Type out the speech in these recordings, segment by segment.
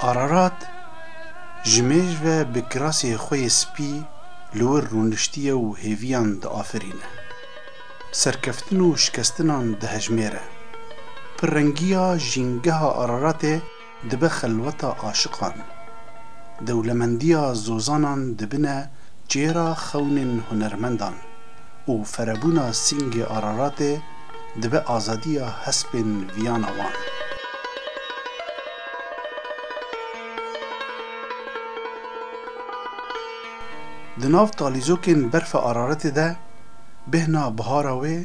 Ararat ji mêj ve bi kirasê xwe yê spî li wir rûniştiye û hêviyan diafirîne. Serkeftin û şikestinan dihejmêre. Pirrengiya jîngeha Araratê dibe xelweta aşiqan. Dewlemendiya zozanan dibine çêra xewnên hunermendan û ferebûna singê Araratê, dibe azadiya hespên viyana wan. Di nav talîzokên berfa araretê de bêhna bihara wê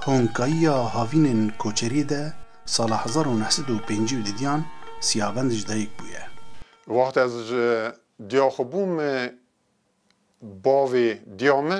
honkayiya havînên koçeriyê de sala hezar û neh sed û pêncî û didiyan Siyabend ji dayik bûye. Wextê ez ji diya xwe bûm bavê diya me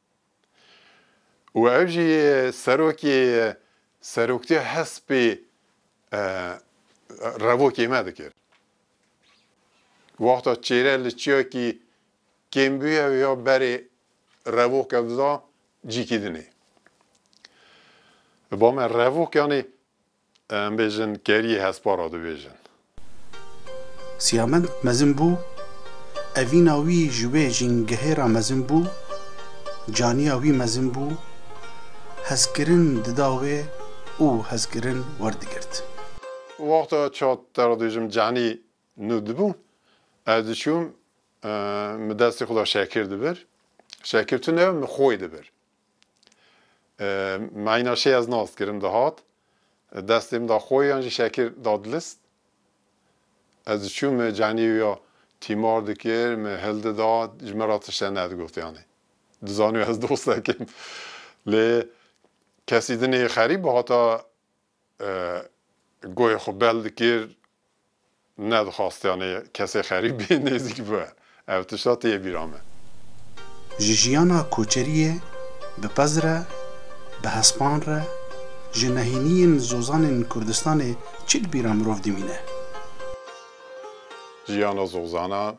û ev jî serokê seroktiya hespê revokê me dikir. Wexta çêre li çiyakî kêm bûye ya berê revoke dida cîkî dinê. Ba me revokanê Em bêjin keriyê hespa ra dibêjin. Siyamend mezin bû, evîna wî ji wê jîngehê ra mezin bû, caniya wî mezin bû, hezkirin dida wê û hezkirin werdigirt. Wexta çat te ra dibêjim canî nû dibû, ez diçûm, min destê xwe da Şakir dibir, Şakir tune min xwe dibir. Meyna şê ez nas kirim dihat destê min da xo yan jî şekir da dilist. Ez diçûm min canî wî ya tîmar dikir, min hil dida, ji min ra tişte nedigot yanî. Dizanî ez dostekê im. Lê kesî din ê xerîb hata Goyê xwe bel dikir, nedixwastianê kesê xerîb bê nêzîk bibe. Ev tişta têye bîra me. Ji jiyana koçeriyê bi pez re, bi hespan re, ji nehîniyên zozanên Kurdistanê çi di bîra mirov dimîne? Jiyana zozanan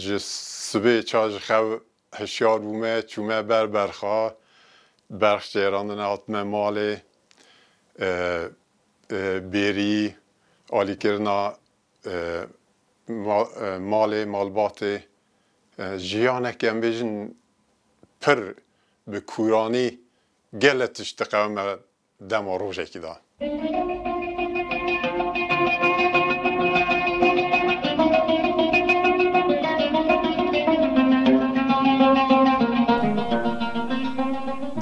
ji sibê ça ji xew Hişyar bûme, çûme ber berxa, berx cêrandine hatime malê, bêrî, alîkirina malê, malbatê. Jiyaneke em bêjin pir bi kûranî gele tişt diqewime dema rojekî de.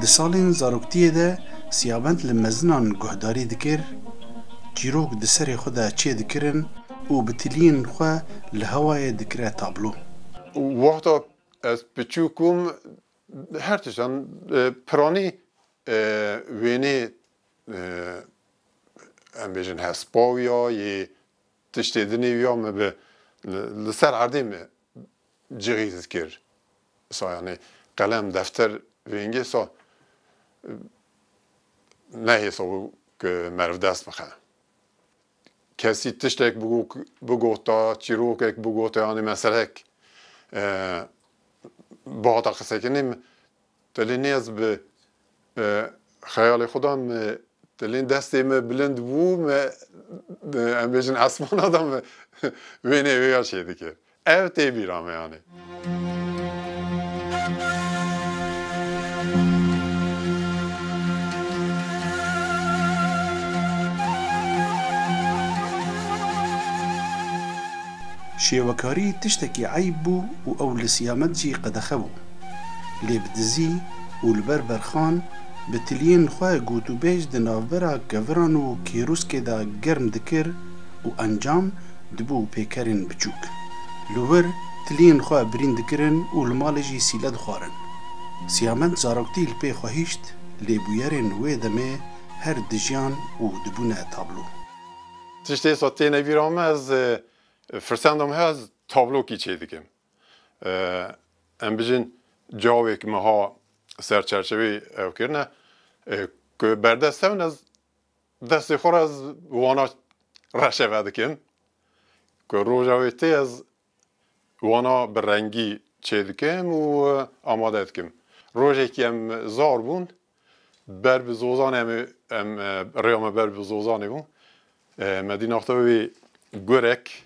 Di salên zaroktiyê de Siyabend li mezinan guhdarî dikir, çîrok di serê xwe de çê dikirin û bi tiliyên xwe li hewayê dikire tablo. Wexta ez piçûk bûm Her tiştan piranî wênê em bêjin hespa wî ya yê tiştê dinê wî ya min bi li ser erdê min cixî dikir. Sa yanî qelem, defter vêngê sa nehêso ku meriv dest bixe. Kesî tiştek bigota, çîrokek bigota yanî meselek bihata qisekirinê min tilê nêz bi xeyalê xwe de min tilê destê min bilind bû min em bêjin esmana de min wêneyê wê ya çêdikir. Ev tê bîra me anî. Şêwekarî tiştekî eyb bû û ew li Siyamed jî qedexe bû. Lê bi dizî û li ber berxan bi tiliyên xwe gotûbêj di navbera keviran û kêrûskê de germ dikir û encam Dibû pêkerên biçûk. Li wir tiliyên xwe birîn dikirin û li malê jî sîle dixwarin. Siyamend zaroktî li pê xwe hişt lê bûyerên wê demê her dijiyan û dibûne tablo. Tişt êsa têne bîra me ez firsenda me heye ez tablo kî çêdikim. Em bijîn cawêk meha serçerçevê ew kirine ku berdest hewn ez. Destê xwe re ez bi wana reşê ve dikim ku roja wê tê ez wana bi rengî çê dikim û amade dikim. Rojekî em zar bûn ber bi Zozanê em ê em rêya me ber bi Zozanê bû. Me dî naxta wê gurek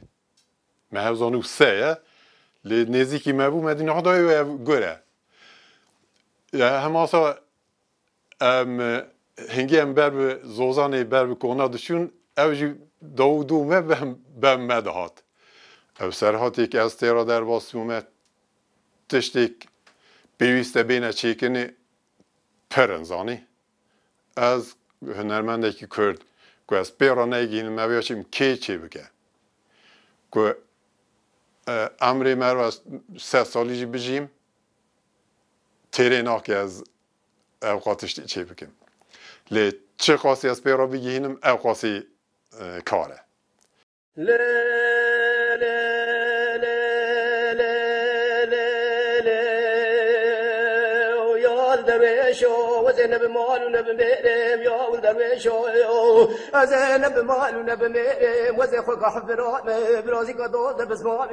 me hev zanî û se ye lê nêzîkî me bû me dî naxta wê ev gur e. Hema sa Em hingê em ber bi Zozanê ber bi kona diçûn ew jî dawû dû me bem me dihat. Ew serhatê ke ez tê re derbas bûme tiştêk pêwîste bêne çêkinê pir in zanî. Ez hunermendekî kurd ku ez pê re negihînim me vêya çîm kê çê bike. Ku emrê me re sed salî jî bijîm. Têrê nake ez ewqas tiştî çê bikim. Lê çi qasî ez pê re bigihînim ewqasî kar e.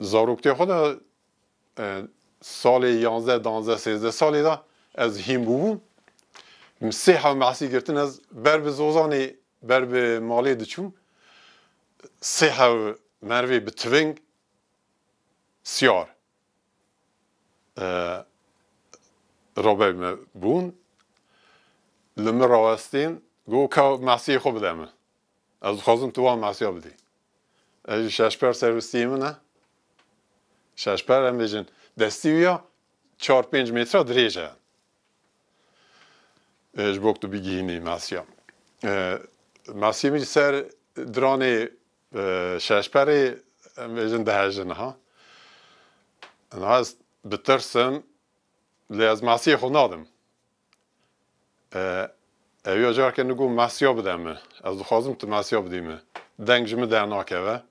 Zaroktîya xwe de salê yanzdeh, danzdeh, sêzdeh salê de ez hîn bûbûm. Min sê hev mehsî girtin ez ber bi Zozanê ber bi malê diçûm. Sê hev merivê bi tiving siyar roberê me bûn. Li min rawestîn got ka mehsiyê xwe bide min. Ez dixwazim tu wan masiya bidî. Ez jî şeşper ser wistiyê min e. Şeşper em bêjin destî wî ya çar pênc metre dirêj e. E, ji bo ku tu bigihînî masiya. E, masiyê min jî ser diranê e, şeşperê em bêjin dihejin ha. Niha ez bitirsim lê ez masiyê xwe nadim. Ew ya careke nû got masiya bide min. Ez dixwazim tu masiya bidî min. Deng ji min dernakeve.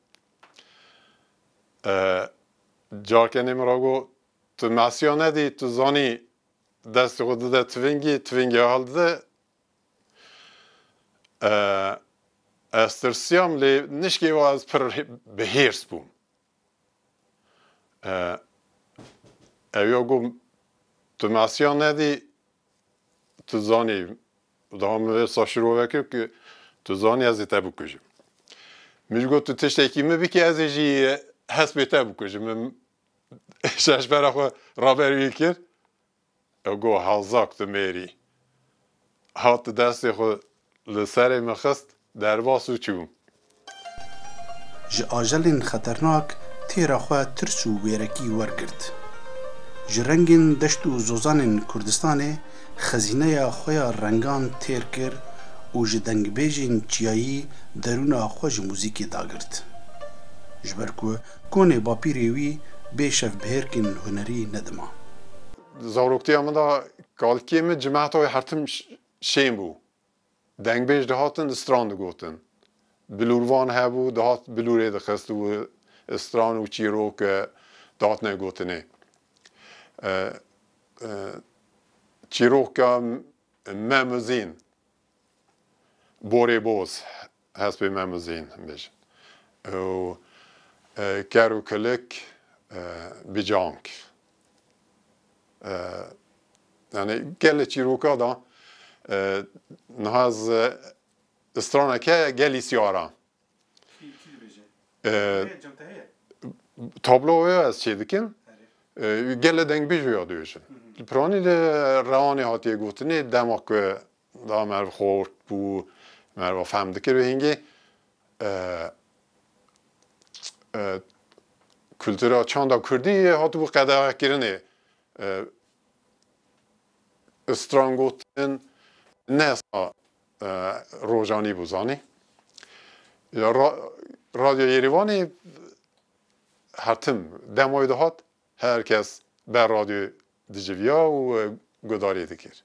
Careke nê min re got tu masiya nedî, tu zanî destê xwe dide tivingî, tivingî hildide. Ez tirsiyam lê nişkê wa ez pir bi hêrs bûm. Ew ya got, Tu masiya nedî, tu zanî, daha min vê sa şirove kir ku tu zanî ez ê te bikujim. Min jî got, tu tiştekî min bikî ez ê jî hespê te bikujim. Min şeşbera xwe raberî wî kir. Ew got, Hazak tu mêrî. Hat destê xwe li serê min xist, derbas û çû. Ji ajelên xeternak têra xwe tirs û wêrekî wergirt. Ji rengên deşt û zozanên Kurdistanê xezîneya xwe ya rengan têr kir û ji dengbêjên çiyayî derûna xwe ji muzîkê dagirt. Ji ber ku Konê bapîrê wî bê şevbihêrkên hunerî nedima. Di zaroktiya min de kalkiyê min cimehta wê hertim şên bû. Dengbêj dihatin li stran digotin. Bilûrvan hebû dihat bilûrê dixist û stran û çîrok dihatine gotinê. Çîroka me Mizîn. Borê boz, hespê me mizin bij. Ew ker û kilik bicank. Yanî gelê çîroka da niha ez strana ke gelî siyara. Tablo ya ez çê dikim, gelê dengbîj ya dibêjin. Li piranî de rewanê hatiye gotinê dema ku da merv xort bû, merva fehm dikir bi hingê kultura çanda kurdî hatibû qedexekirinê. Stran gotin ne Rojanî bû zanî. Ya Radyo Yêrîvanê hertim demoyê dihat her kes ber radyoyê diciviya û guhdarî dikir.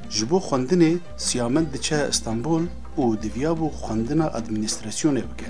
Ji bo xwendinê Siyamen diçe Stenbol û diviyabû xwendina administrasyonê bike.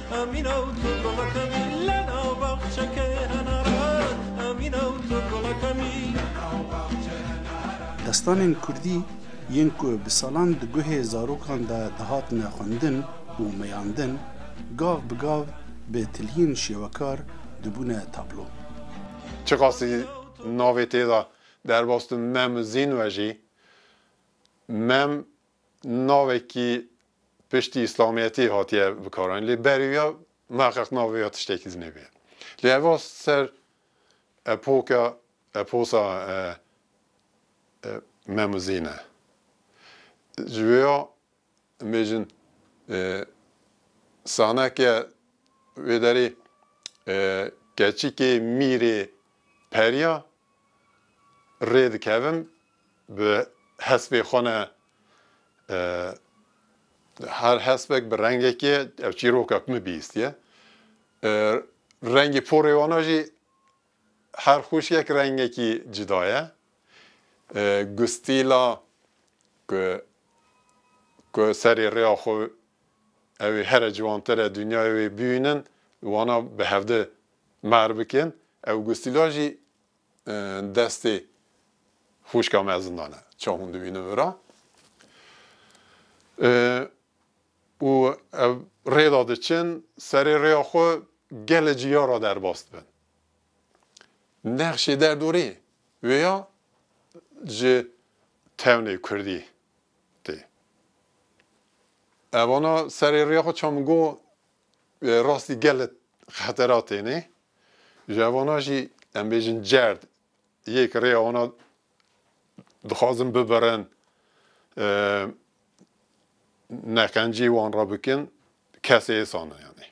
Destanên kurdî yên ku bi salan di guhê zarokan de dihatine xwendin û meyandin, gav bi gav bi tiliyên şêwekar dibûne tablo. Çiqasî navê tê de derbas tu Mem Zîn vejî, Mem navekî Piştî îslamiyetê hatiye bikaranîn lê berêya meqeq navê ya tiştekî din hebe ye. Lê eva ser epoka eposa Mem û Zîn e. Ji wê ya em bêjin saneke wê derê keçikê mîrê periya rê dikevin Bi hespê xwe ne her hespek bi rengekê ev çîroka min bihîstiye. Rengê porê wan a jî her xwişkek rengekî cida ye. Ku stîla ku ku serê rêya xwe ew ê here ciwantir e dinyayê wê bihînin û wana bi hevdi mer bikin. Ew ku stîla jî Destê xûşka me zindan e. Ça hûn dibînin vira. Û ev rê de diçin, serê rêya xwe gelê ciya re derbas dibin. Nexşê derdorê wê ya ji tewnê kurdî tê. Evana serê rêya xwe ça min got, Rastî gelek xetera têne. Ji evana jî em bêjin cerd yê ki rêya wana dixwazin bibirin neqencî wan re bikin kesê êsan e yanî.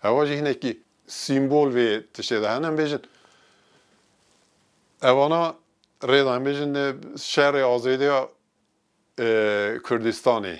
Ewa jî hinekî sîmbol vê tiştê de hene em bêjin evana rêda em bêjin şerê azêdiya Kurdistanê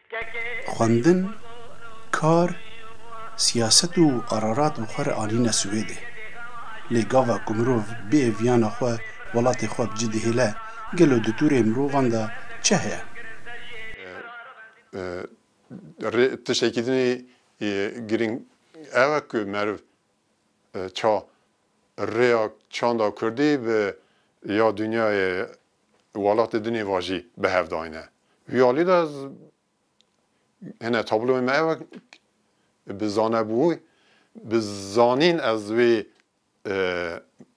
Xwendin, kar, siyaset û qerarat bi xwe re anîne Swêdê. Lê gava ku mirov bê viyana xwe welatê xwe bi cî dihêle, gelo di tûrê mirovan de çi heye? Rê tiştekî din ê girîng ew e ku meriv ça rêya çanda kurdî bi ya dinyayê Welatê din ê vajî bi hev dayne. Vî alî de hene tabloyê me ew e bi zanebû bi zanîn ez vê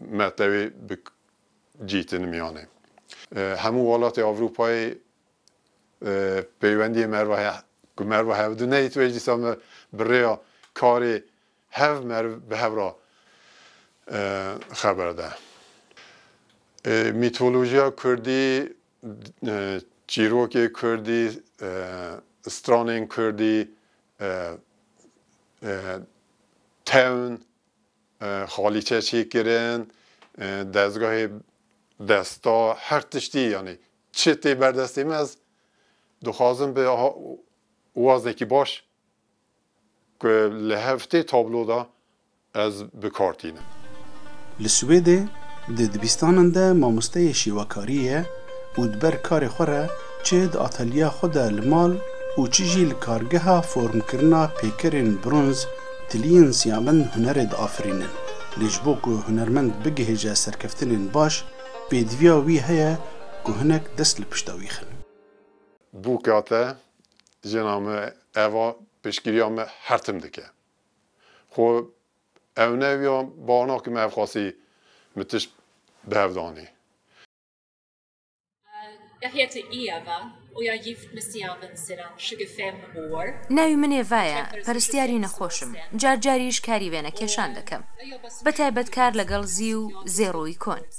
metewê bi cî tinim yanê. Hemû welatê Ewropayê peywendiyê me re heye. Ku me re hev di neyê tu ê dîsa me bi rêya karê Hev merv bi hev re xeber da. Mîtolojiya kurdî, çîrokê kurdî, stranên kurdî, tewn, xalîçe çêkirin, dezgahê desta, her tiştî yanî çi tê berdestê me ez dixwazim bi wazekî baş Ku li heftê tablo de ez bi kar tînim. Li Swêdê di dibistanan de mamosteyê şêwekarî ye û di ber karê xwe re çi di atelyeya xwe de li mal û çi jî li kargeha formkirina pêkerên bronz tiliyên siyamend hunerê diafirînin. Lê ji bo ku hunermend bigihêje serkeftinên baş, pêdiviya wî heye ku hinek dest li pişta wî xin. Bûka te Jina me eva piştgiriya me her tim dike. Xwe ewnewya bar nakim ev xwesî min tişt bi hev danî. Gehê ti î eva û ya yîft misiya min ser a şigifê min û wir. Navî min Eva ye, peristiyarî nexweş im, car carî ji karî vêne kêşan dikim. Bi taybet kar legal zî û zêroî kon.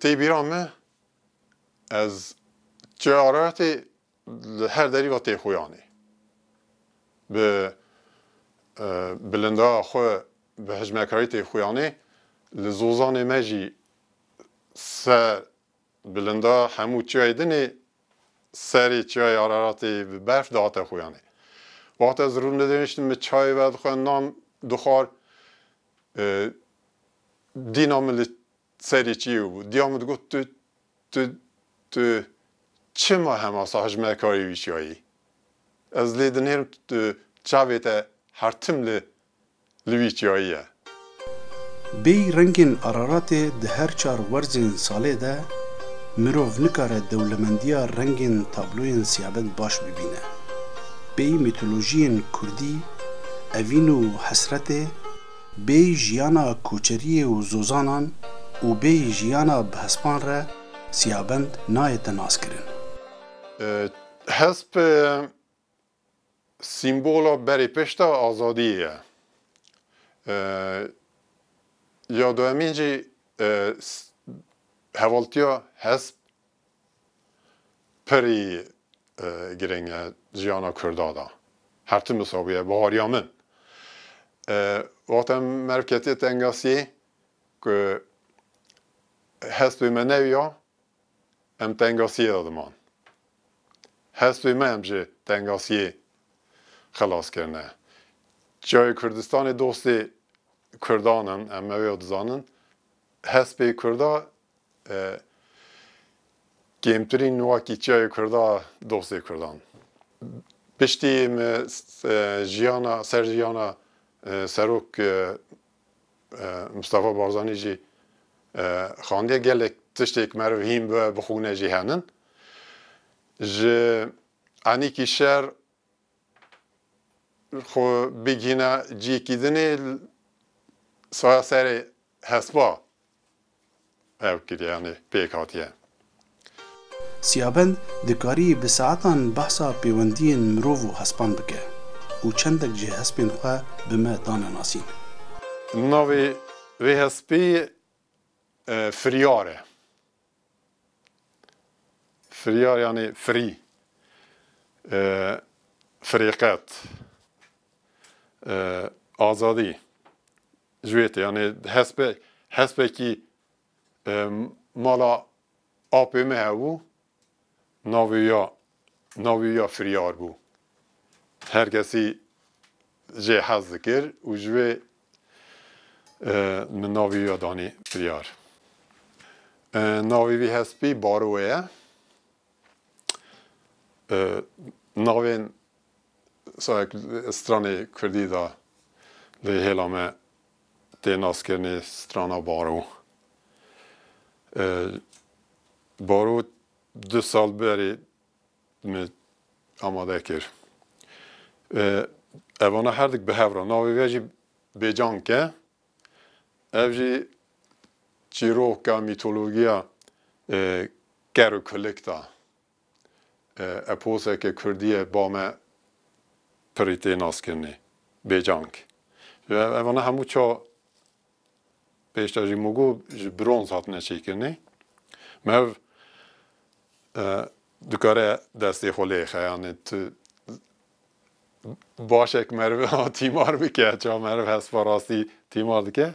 Tê bîra me ez çaretê li her derî ve tê xuyanê. Bi bilindaya xwe bi hicmekarî tê xuyanê. Li Zozanê me jî ser Bilinda hemû çiyayê din ê. Serê çiyayê Araratê bi berf dihate xuyanê. Wext ez rû didanîştim min çayê vedixwendam du xwar dîna min li serê çiyê bû. Diya min digot tu tu tu çima hema sah hijmerkarî wî çiyayê yî? Ez lê dinêrim tu çavê te her tim li li wî çiyayî ye. Bêyî rengên Araratê di her çar werzên salê de mirov nikare dewlemendiya rengên tabloyên siyabed baş bibîne. Bêyî mîtolojiyên kurdî, evîn û hesretê, bêyî jiyana koçeriyê û zozanan û bêyî jiyana bi hespan re siyabend nayete naskirin. Hesp Sîmbola berê pişta azadiyê ye. Ya duhemîn jî hevaltiya hesp pirî girîng e jiyana kurda de. Her tim wisa bûye. Bahariya min wexta meriv ketiye tengasiyê ku hespê me newiya Em tengasiyê de diman. Hestê me em ji tengasiyê xilas kirine. Çiyayê Kurdistanê dostê Kurdan in, em ew ya dizanin. Hespê Kurda kêmtirîn wakî çiyayê Kurda dostê Kurdan. Piştî me jiyana ser jiyana Serok Mistefa Barzanî jî xandiye gelek tiştê ku meriv hîn bibe bixwîne jî henin. Ji enîkî şer xwe bigihîne ciyekî dinê, saya serê hespa. ew kiriyanê pêk hatiye. Siyabend dikarî bi saetan behsa pêwendiyên mirov û hespan bike û çendek jî hespên xwe bi me dane nasîn. Navê vê hespê Firyar e. Firyar yanê firî, firêqet, azadî. Ji wê tê yanê hespe hespekî mala apê me hebû navê ya navê ya firyar bû. Her kesî jê hez dikir û ji wê min navê ya danî firyar. Navê vî hespî Barowe ye. Navên Sahek stranê kurdî de lê hêla me tê naskirinê strana baro. Baro du sal berê min amade kir. Evana her dik bi hev re navê ve jî Bêcank e. Ev jî çîroka mîtologiya ker û kulik de. Eposeke kurdî ye ba me pirî tê naskirinê. Bêcang. Evana hemû ça pêşta jî mûgo ji bronz hatine çêkirinê. Merv dikare destê xwe lê xe yanê tu başek merv tîmar bike. Ça merv hespa rastî tîmar dike.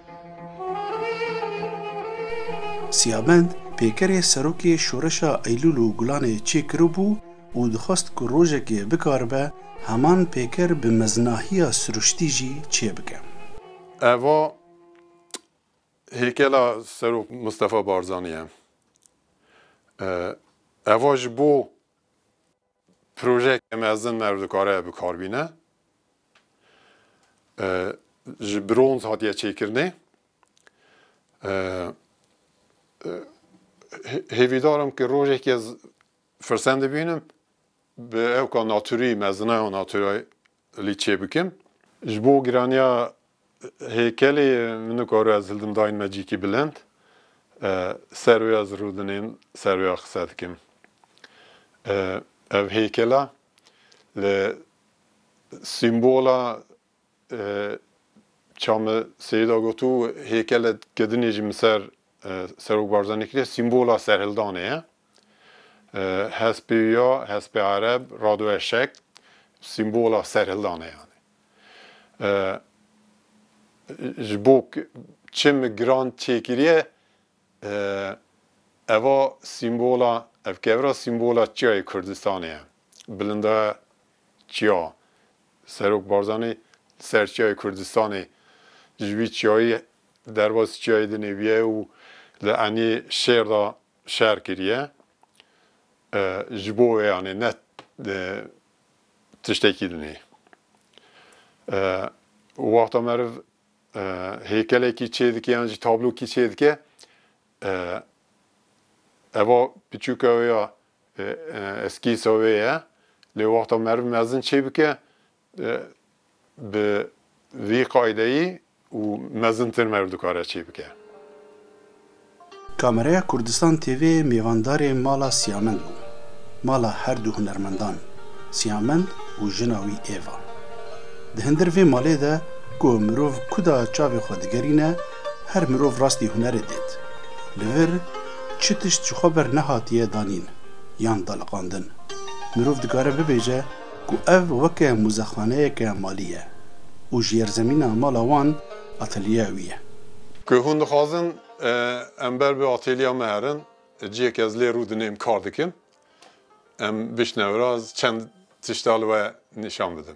Siyabend pêkerê serokê şoreşa Eylûl û Gulanê çê kiribû û dixwest ku rojekê bikaribe heman pêker bi meznahiya siruştî jî çê bike. Eva hêkela Serok Mistefa Barzanî ye. Eva ji bo Projeyeke mezin merv dikare bikar bîne. Ji bronz hatiye çêkirinê. Hêvîdar im ke rojeke firsend bibînim bi ewka naturî, mezina ya naturî li çê bikin. Ji bo giraniya hêkelê min nikaru ez hildim dayên me cîkî bilind ser wê ez rûdinên ser wê a qise dikim. Ev hêkela li sîmbola Çame Seyîda gotû hêkele kedinê jî min ser Serok Barzanî kiriye sîmbola serhildanê ye. Hespê wî ya, hespê ereb, rado eşek, sîmbola serhildanê ye. Ji bo çim giran çêkiriye eva sîmbola, ev kevra sîmbola çiyayê Kurdistanê ye. Bilinda çiya Serok Barzanî li ser çiyayê Kurdistanê ji wî çiyayî Derbas çiyayê dinêbiye û li enê şêr de şer kiriye. Ji bo wê anê ne tiştekî din e. Wexta meriv hêkelekî çêdike yan jî tablokî çêdike eva piçûka wê ya eskîsa wê ye lê wexta meriv mezin çêbike Bi vî qaydeyî û mezintir me dikare çî bike. Kameraya Kurdistan TV mêvandarê mala Siyamend bû, mala her du hunermendan Siyamend û jina wî Eva. Di hindir vê malê de ku mirov kuda çavê xwe digerîne, her mirov rastî hunerê dêt. Li vir çi tişt ji xwe ber nehatiye danîn yan daliqandin. Mirov dikare bibêje. ku ev weke muzexaneyeke malî ye û jêrzemîna mala wan atelyeya wî ye. Ku hûn dixwazin em ber bi atelyeya me herin, cihê ku ez lê rû dinêm kar dikim, em bişne vir, ez çend tişta li we nîşan bidim.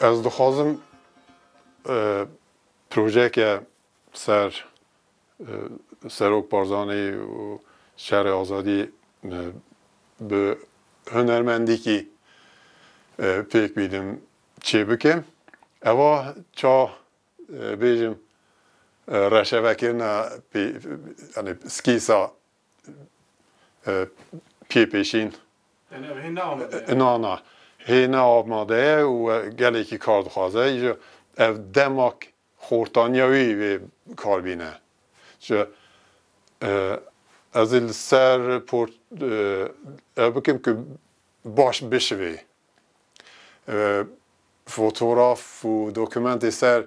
Ez dixwazim projeyeke ser Serok Barzanî û Şerê Azadî bi hunermendîkî pêk bînim çêbikim. Ewa ça bêjim reşevekirina pê yanî skîsa pê pêşîn. Yanî ev hê ne amade ye? Na na. Hê ne amade ye û gelekî kar dixwaze. Îja ev dema xortaniya wî vê kar bîne. Îja ez ê li ser port ev bikim ku baş bişivê. Fotograf û dokumentê ser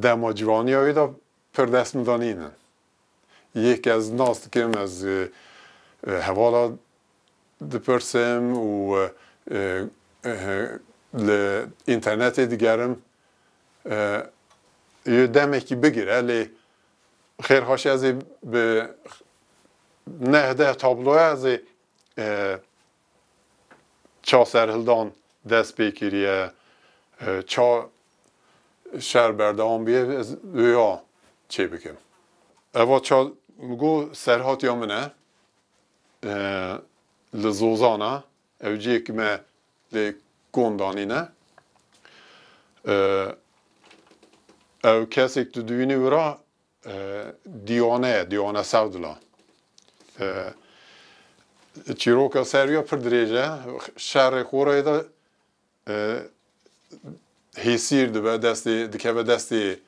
dema ciwaniya wî de pir destnîdan nîn in. Yek ez nas dikim ez hevala dipirsim û li înternetê digerim yê demekî bigire lê xêr xweşî ez ê bi neh deh tabloya ez ê Ça serhildan dest pê kiriye, ça şer berdewam bûye ez wêya çê bikim. Eva ça go serhatiya min e li Zozan e, ew ciyê ku me lê kom danîne. Ew kesê ku tu dibînî wira Diyone, Diyone Sewdila. Çîroka serwî ya pir dirêj e. Şerê Qoreyê de hêsîr dibe destê dikeve destê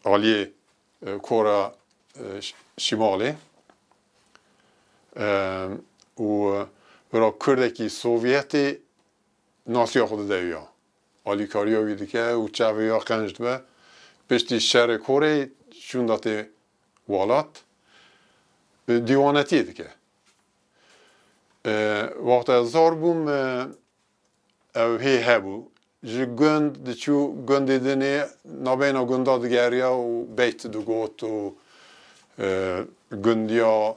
aliyê Kora Şîmalê. Û bira kurdekî sovyetê nasiya xwe dide ya. Alîkariya wî dike û çavê ya qenc dibe. Piştî şerê korê çûn datê welat dîwanetiyê dike. Wexta ez zor bûm ew hê hebû. Ji gund diçû gundê din ê navbeyna gundan digeriya û beyt digot û gundiya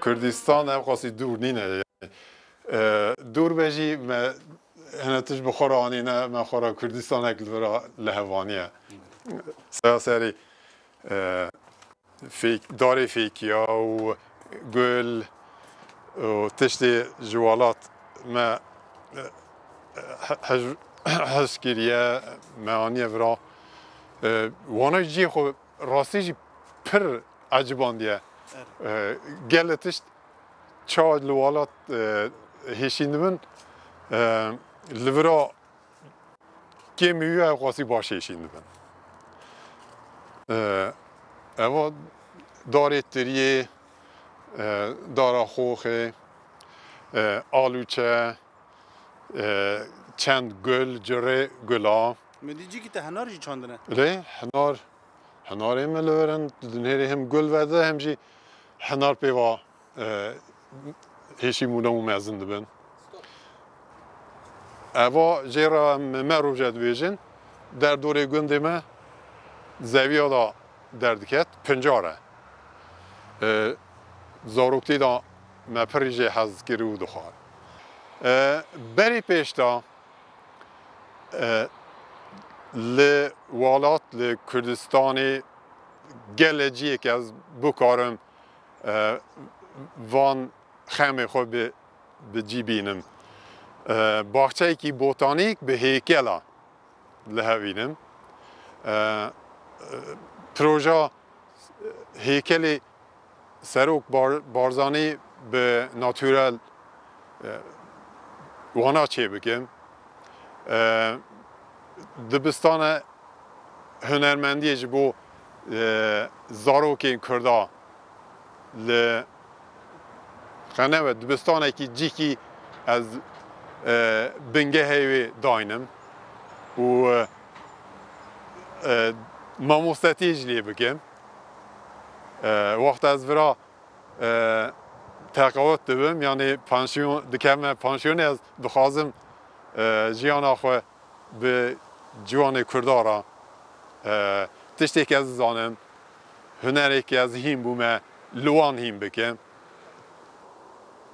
Kurdistan ev qasî dûr nîne. Dûr be jî me hene tişt bi xwe re anîne, me xwe re Kurdistanek li vir a li hev aniye. Sera serî Darê fêkiya û gul û tiştê ji welat me hez kiriye me aniye vira. Wana jî cihê xwe rastî jî pir ecibandiye. Gelê tişt çawa li welat hêşîndibin li vira Kêmî wî ew qasî baş hêşîn dibin. Eva darê tiriyê, dara xoxê, alûçe, çend gul, cirê gula. Mi dî cîkî te henar jî çandine. Lê henar, henarê me li vir in, di nêrê him gul vedi, him jî henar pê va Hêşî mûna û mezin dibin. Eva jê re em me roje dibêjin derdorê gundê me zewiya da derdiket pincar e. Zaroktî da me pirî jê hez dikir û dixwar. Berî pêş de li welat li Kurdistanê gelê ciyê ke ez bikarim van xemê xwe bi bi cî bînim. Baxçeyekî botanîk bi hêkela li hev bînim. Proja hêkelê Serok Barzanî bi naturel wana çê bikim. Dibistane hunermendiyê ji bo zarokên Kurda li Xenewe dibistanekî cîkî ez bingehê wê daynim û mamostetiyê jî lê bikim. Wexta ez vira teqewût dibim yanî pansiyon dikeme pansiyonê ez dixwazim jiyana xwe Bi ciwanê Kurda re tiştêk ez dizanim, hunerêk ez hîn bûme li wan hîn bikim.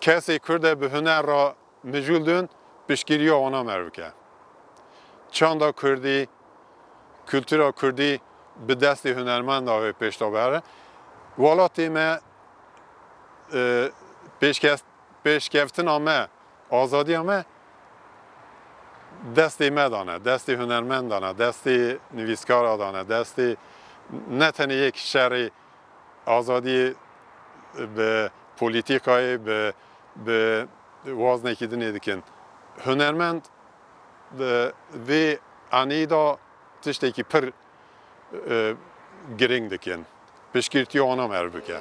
Kesê Kurde bi huner re mijûl dun piştgiriya wana mer bike. Çanda Kurdî, kultura Kurdî bi destê hunermenda wê pêşda bere. Welatê me pêşkes pêşkeftina me, azadiya me destê me de ne, destê hunermendan e, destê nivîskara de ne, destê ne tenê yek şerê azadiyê bi polîtîkayê, bi bi waznekî din ê dikin. Hunermend di vê aneyî de tiştekî pir girîng dikin. Piştgirtî wan am erv bike.